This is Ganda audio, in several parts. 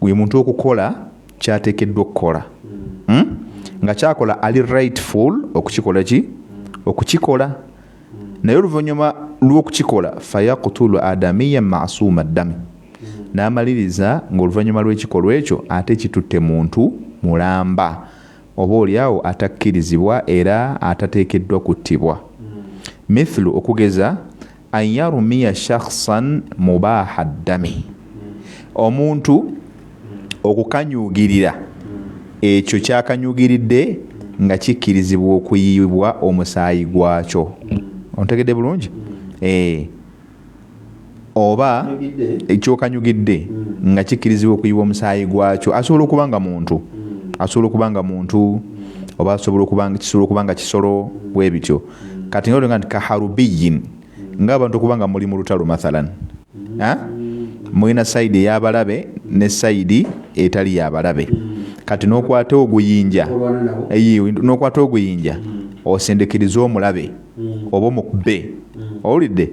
buli muntu okukola kyateekeddwa okukola hmm? nga kyakola ali rightful okukikola ki okukikola naye oluvannyuma lw'okukikola fayakutulu adamiya masuuma ddami n'amaliriza ng'oluvannyuma lw'ekikolwa ekyo ate kitutte muntu mulamba oba olyawo atakkirizibwa era atateekeddwa kuttibwa mithlu okugeza An yarumiya shakhsan mubaha ddami, omuntu okukanyuugirira ekyo kyakanyuugiridde nga kikkirizibwa okuyiibwa omusaayi gwakyo. Ontegedde bulungi? Eh. Oba ekyokanyugidde hmm. nga kikkirizibwa okuyiibwa omusaayi gwakyo. Asobola okuba nga muntu, hmm. asobola okuba nga muntu, oba asobola okuba kisobola okuba nga kisolo bwe bityo. kati nga olinga nti kaharubiyin nga abantu okuba nga muli mu lutalo mathalan mulina sayidi eyabalabe ne sayidi etali yabalabe kati nokwata oguyinja nokwata oguyinja osindikiriza omulabe oba omukube owulidde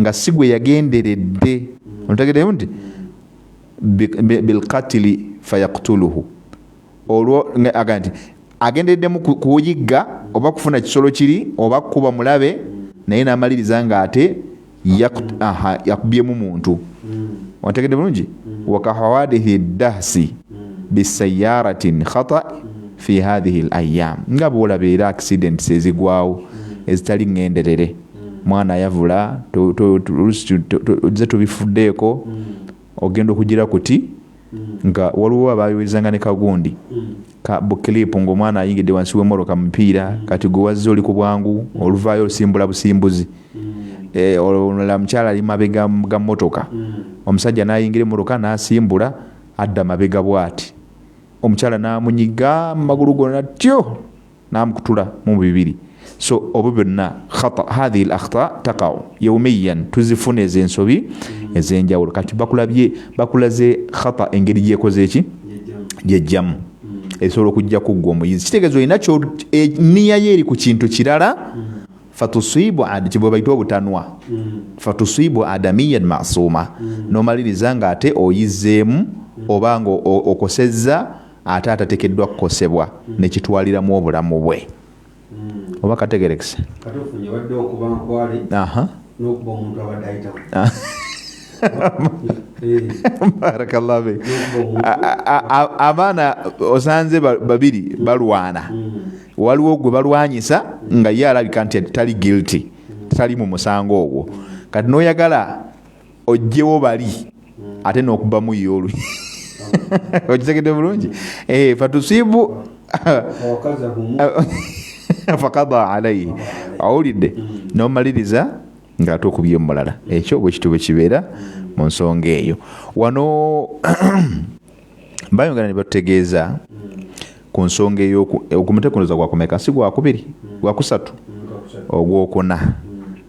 nga si gwe yagenderedde ontegeddemu nti bilkatili fayakutuluhu olwo aga nti agendereddemu kuyigga oba kufuna kisolo kiri oba kukuba mulabe naye n'amaliriza ng'ate yakubyemu muntu hmm. ontegedde bulungi hmm. wakahawadihi dahsi hmm. bisayaratin khata fi hadhihi layam nga bwolabeera accidents ezigwawo ezitali ŋŋenderere mwana ayavula oze tobifuddeeko mm. ogenda okugira kuti mm. nga waliwo abayoezanga ne kagundi mm. ka bukilipu ngaomwana ayingidde wansi wemoroka mupiira kati gwe wazze oli ku bwangu oluvaayo olusimbula busimbuzi eh, olala mukyala ali mabega ga motoka omusajja nayingira emoroka nasimbula adda mabega bwati omukyala namunyiga mumagulu gona tyo namukutula mu bibiri so obo byonna khata hadhihi l akhta takau yaumiyan tuzifuna ezo ensobi ezenjawulo kati bakulabye bakulaze khata engeri gyekoze eki gyejjamu esobola okujja kuggwa omuyizi kitegeeza olina e, niya ye eri ku kintu kirala fatusibu kibwe baita obutanwa fatusibu adamiyan masuma nomaliriza nga ate oyizeemu oba nga okosezza ate atatekeddwa kukosebwa nekitwaliramu obulamu bwe hmm. oba kategerekese barakallahbe abaana osanze babiri balwana hmm. waliwo gwe balwanyisa nga ye alabika nti tali guilty tali mu musango ogwo kati noyagala ojjewo bali ate nokubamu ye olu okitegedde bulungi eh, fatusibu fakada alaihi awulidde nomaliriza nga ate okubye omulala ekyo bwekityo bwekibeera mu nsonga eyo wano bayongera ne batutegeeza ku nsonga ey'okumutekunoza gwakumeka si gwakubiri gwakusatu ogwokuna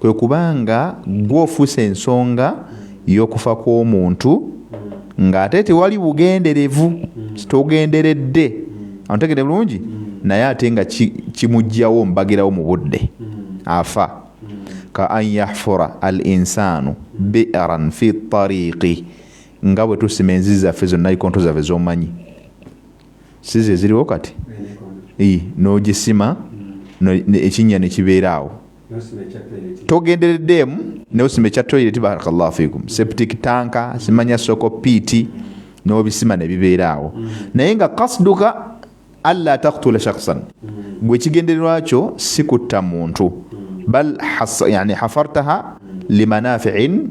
kwe kuba nga gwe ofuusa ensonga y'okufa kw'omuntu ng'ate tewali bugenderevu togenderedde antegede bulungi naye ate nga kimugjawo mbagirawo mu budde afa ka an yahfura al insaanu biran fi tariiki nga bwe tusima enzizi zaffe zonna ikonto zaffe z'omanyi si ze ziriwo kati n'ogisima ekinnya ne kibeera awo togendereddeemu neosima ekya toilet barakallahu fikum septic tanka simanya soko piiti n'obisima ne bibeera awo naye nga kasduka alla taktula shaksan gwe ekigendererwa kyo si kutta muntu bal yani hafartaha limanafiin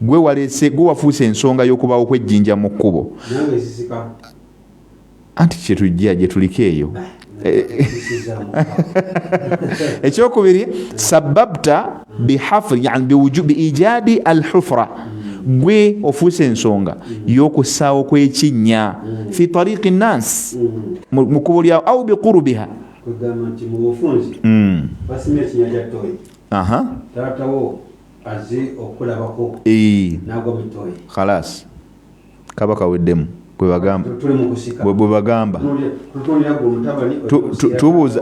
Gwe walese gwe wafuuse ensonga y'okubaawo kw'ejjinja mu kkubo. Anti kye tujja gye tuliko eyo. Ekyokubiri sababta bihafri yani biwujubi ijadi alhufra gwe ofuuse ensonga y'okussaawo kw'ekinnya fi tariqi nnaasi mu kkubo lyawo au biqurubiha kugamba nti mu bufunzi hmm. basima ekinya kya toyi taatawo aze okulabako nagwa mutoyi khalas kaba kaweddemu bwebagamba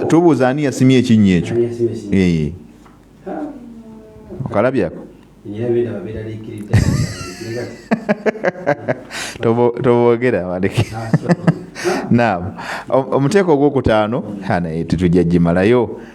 tubuuza ani yasimye ekinnya ekyo okalabyako tobogera baleke naam omuteeko ogwokutaano naye tetujja gimalayo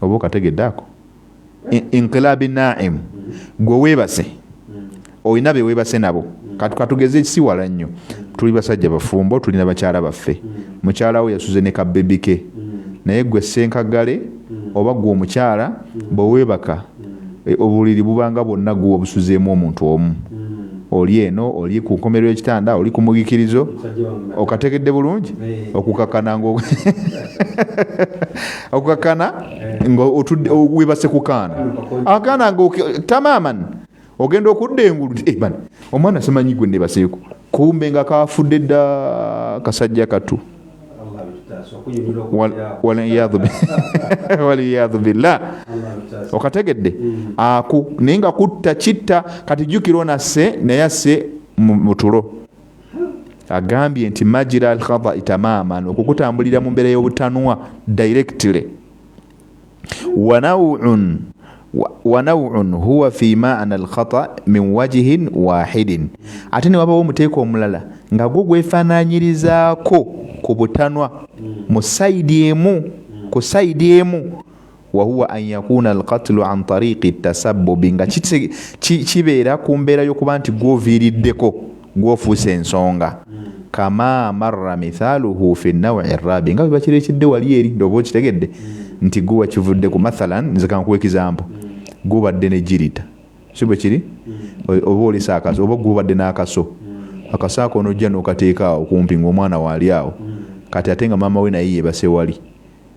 oba okategedde ako inqilabi naimu gwe webase olina bewebase nabo katugeze siwala nnyo tuli basajja bafumbo tulina bakyala baffe mukyalawo yasuze ne kabebike naye gwe senkagale oba gwe omukyala bwewebaka e, obuliri bubanga bwonna guwa obusuzeemu omuntu omu oli eno oli ku nkomerero ekitanda oli ku mugikirizo okategedde bulungi okukakana nga okukakana nga webase kukaana akaana nga tamaman ogenda okudda engulu eh, omwana simanyi gwe nebaseeko kumbe nga kafudde dda kasajja katu waliyadhu billah okategedde hmm. aku naye nga kutta kitta kati jukira onasse naye asse mutulo agambye nti majira alkhadai tamaman okukutambulira mu mbeera y'obutanwa directly wanaun huwa fi maana alkhata min wajihin wahidin ate newabawo omuteeka omulala nga gwo gwefananyirizaako ku butanwa mu saidi emu ku saidi emu wahuwa an yakuna alkatulu an tariqi tasabubi nga kibeera ku mbeera yokuba nti gwoviiriddeko gwofuuse ensonga kama marra mithaluhu fi nawi rabi nga webakirekidde wali eri ndoba okitegedde nti gwe wakivudde ku mathalan nze kankuwa ekizambo gubadde ne jirita si bwe kiri oba olesa akaso oba gubadde n'akaso akaso ako onojja n'okateeka awo kumpi ng'omwana waali awo kati ate nga maama we naye yebase wali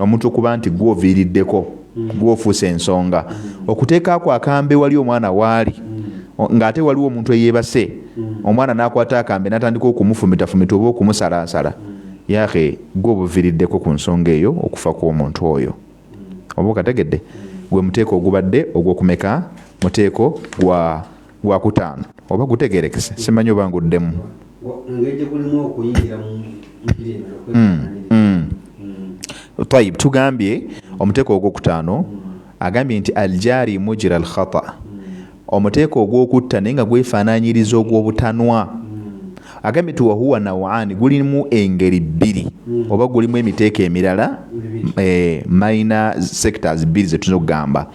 omuntu okuba nti gwe oviiriddeko gwe ofuuse ensonga okuteeka ako akambe wali omwana waali ng'ate waliwo omuntu eyeebase omwana n'akwata akambe n'atandika okumufumitafumita oba okumusalaasala yaahe gwe obuviiriddeko ku nsonga eyo okufa kw'omuntu oyo oba okategedde gwe muteeko ogubadde ogw'okumeka muteeko gwa gwakutaano oba gutegerekese simanyi oba nguddemu hmm, hmm. tayib tugambye omuteeko ogwokutaano agambye nti aljari mujira alkhata omuteeko ogwokutta naye nga gwefaananyiriza ogwobutanwa agambye nti wahuwa nawaani gulimu engeri bbiri hmm. oba gulimu emiteeko emirala eh, minor sectors bbiri zetuyinza okugamba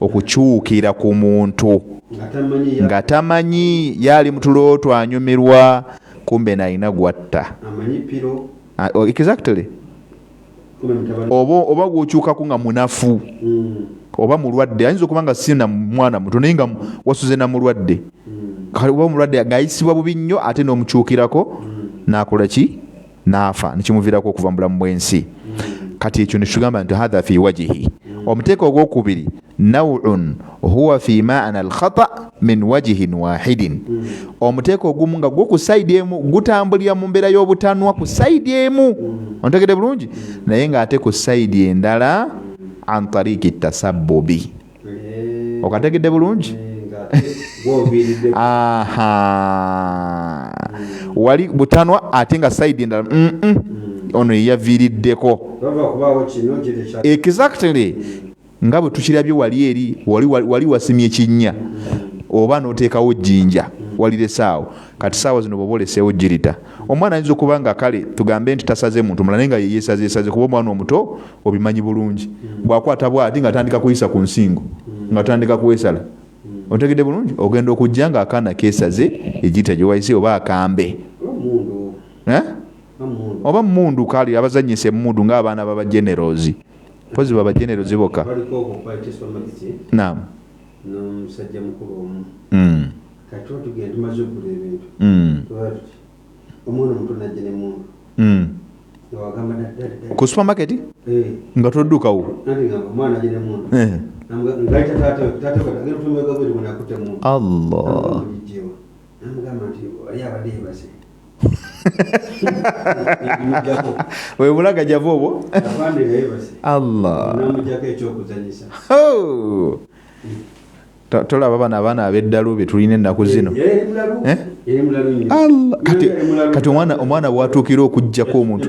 okukyukira ku muntu nga tamanyi yaali mutulooto anyumirwa kumbe nalina gwatta oh, exactly oba oba gwokyukaku nga munafu hmm. oba mulwadde ayinza okuba nga sina mwana muto naye nga wasuze na mulwadde hmm. kale oba omulwadde ngayisibwa bubi nnyo ate n'omukyukirako hmm. nakola ki naafa nekimuviirako okuva mu bulamu bw'ensi kati ekyo nekitugamba nti hatha fi wajihi omuteeka ogwokubiri naun huwa fi maana alkhata min wajihin wahidin omuteeka ogumu nga gwo ku saidi emu gutambulira mu mbeera y'obutanwa ku saidi emu ontegede bulungi naye ng'ate ku saidi endala an tariiki tasabbubi okategedde bulungi wali butanwa ate nga saidi endala mm, mm. ono yeyaviiriddeko exactly nga bwe tukirabye wali eri wali wasimye kinnya oba n'oteekawo jinja waliresaawo kati saawa zino bwoba oleseewo jirita omwana ayinza okuba nga kale tugambe nti tasaze muntu mula naye nga yeyesazesaze kuba omwana omuto obimanyi bulungi bwakwata bwati nga atandika kuyisa ku nsingo nga atandika kwesala otegedde bulungi ogenda okujja nga akaana kesaze egita gyewayise oba akambe eh? oba mundu kali abazanyisa emundu ngaabaana baba generals mpozi baba generals boka omwana omuto najja ne mundu mm. ku supermarket eh. nga toddukawo eh. allah webulaga java obwo allah tolaba bano abaana abeddalu betulina ennaku zino eh, eh? kati omwana bwatuukira okujjako omuntu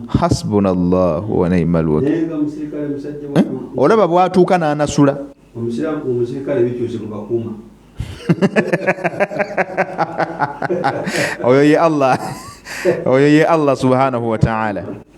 hasbuna llahu wanaima lwaki eh? olaba bwatuuka n'anasula oyo ye allah oyo ye allah subhanahu wataala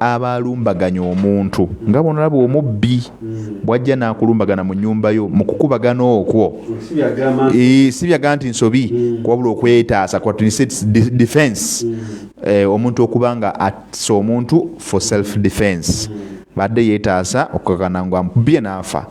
aba alumbaganya omuntu nga bwonolaba omubbi bwajja nakulumbagana mu nyumba yo mu kukubagana okwo eh, si byaga nti nsobi mm. kuwabula okwetaasa defense mm. eh, omuntu okuba nga atisa omuntu for self defense mm. badde yetaasa okukakana nga mubye naafa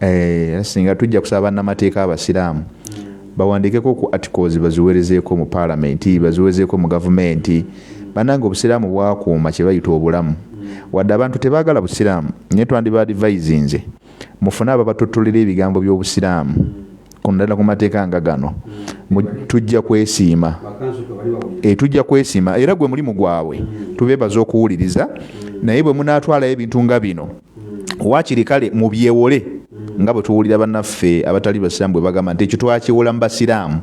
Eh, era singa tujja kusaba bannamateeka abasiraamu bawandiikeko ku articles baziwerezeeko mu paalamenti baziwerezeeko mu gavumenti banange obusiraamu bwakuuma kye bayita obulamu wadde abantu tebaagala busiraamu naye twandiba advisinze mufune ababatottolera ebigambo by'obusiraamu kunadala ku mateeka nga gano tujja kwesiima eh, tujja kwesiima era gwe mulimu gwabwe tubeebaza okuwuliriza naye bwe munaatwalayo ebintu nga bino waakiri kale mubyewole nga bwe tuwulira bannaffe abatali basiraamu bwe bagamba nti ekyo twakiwola mu basiraamu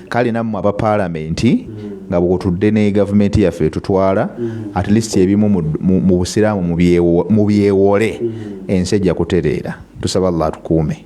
kale nammwe aba paalamenti nga bwotudde ne gavumenti yaffe etutwala at least ebimu mu busiraamu mubyewole ensi ejja kutereera tusaba allah atukuume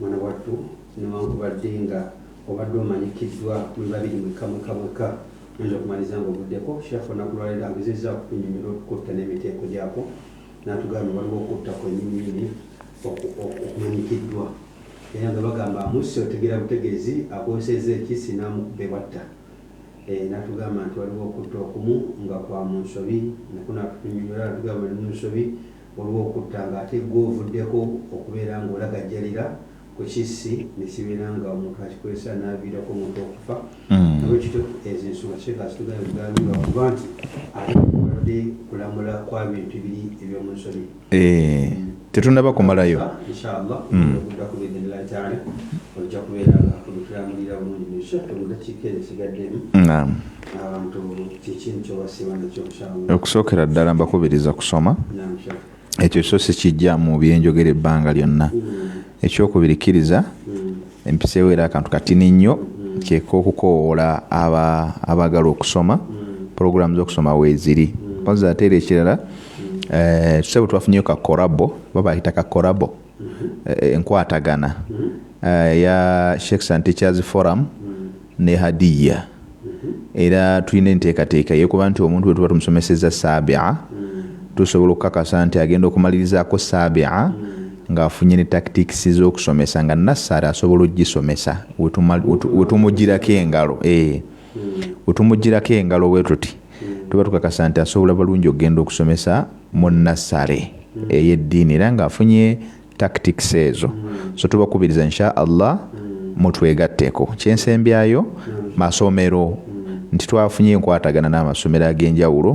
Mwana wattu, newankubadde nga obadde omanyikiddwa muli babiri mwekka mwekka mwekka, oyinza okumaliriza nga ovuddeko. Sheikh onaku lwaleero agezezza okutunyonyola okukutta n'emiteeko gyakwo, natugambye waliwo okutta kwenyininyini okumanyikiddwa era nga bagamba amusse otegera butegezi akozesezza ekissi n'amukuba ewatta. Eh, natugamba nti waliwo okutta okumu nga kwa munsobi nakunatutunyonyola natugamba oli munsobi olw'okutta ng'ate gwe ovuddeko okubeera ng'olagajjalira ku kissi ne kibeera nga omuntu akikozesa n'aviirako omuntu okufa nolwekityo ezo ensonga sheikh azitugana ebigambo lwakuba nti ate kubadde kulamula kwa bintu biri eby'omu nsoni tetunaba kumalayo inshallah okudda ku biidhinillahi taala ojja kubeera nga otulamulira bulungi mu sheikh omudakiika ezo esigaddemu okusookera ddala mbakubiriza kusoma ekyo so sikijja mu byenjogera ebbanga lyonna hmm. ekyokubiri kkiriza hmm. empiseewo era akantu katini nnyo hmm. kyeka okukowoola abaagala okusoma pulogulaamu z'okusoma weeziri oza ate era ekirala eh, tusebo twafunyeyo ka korabo babayita ka korabo eh, enkwatagana eh, ya shakes and teachers forum ne hadiya era tulina enteekateeka yekuba nti omuntu wetuba tumusomeseza sabia tusobola okukakasa nti agenda okumalirizaako sabia ng'afunye ne tactics z'okusomesa nga nassari asobola okugisomesa wetumugirako engalo eh. wetumugirako engalo wetuti hmm. tuba tukakasa nti asobola bulungi okugenda okusomesa mu nassale hmm. eyeddiini era ngaafunye tactics ezo hmm. so tubakubiriza insha allah mutwegatteko kyensembyayo masomero nti twafunye enkwatagana n'amasomero ag'enjawulo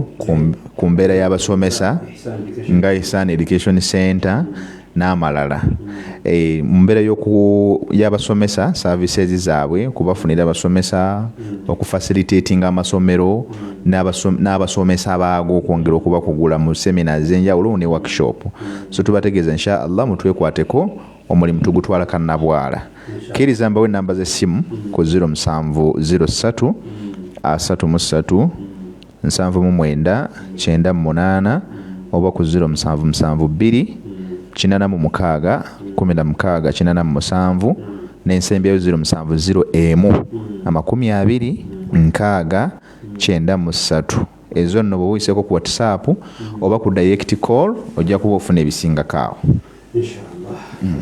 ku mbeera y'abasomesa nga isan education center n'amalala eh, mu mbeera y'abasomesa services zaabwe kubafunira abasomesa okufacilitatinga amasomero n'abasomesa baago okwongera okubakugula mu semina ez'enjawulo ne workshop so tubategeeza insha allah mutwekwateko omulimu tugutwala kannabwala kkiriza mbawo ennamba z'essimu ku 07 03 33 nsanvu mu mwenda kyenda mu munaana oba ku ziro musanvu musanvu bbiri kinana mu mukaaga kumi na mukaaga kinana mu musanvu n'ensembyayo ziro musanvu ziro emu amakumi abiri nkaaga kyenda mu ssatu ezo nno bwe wuyiseko ku whatsapp oba ku direct call ojja kuba ofuna ebisingako awo mm.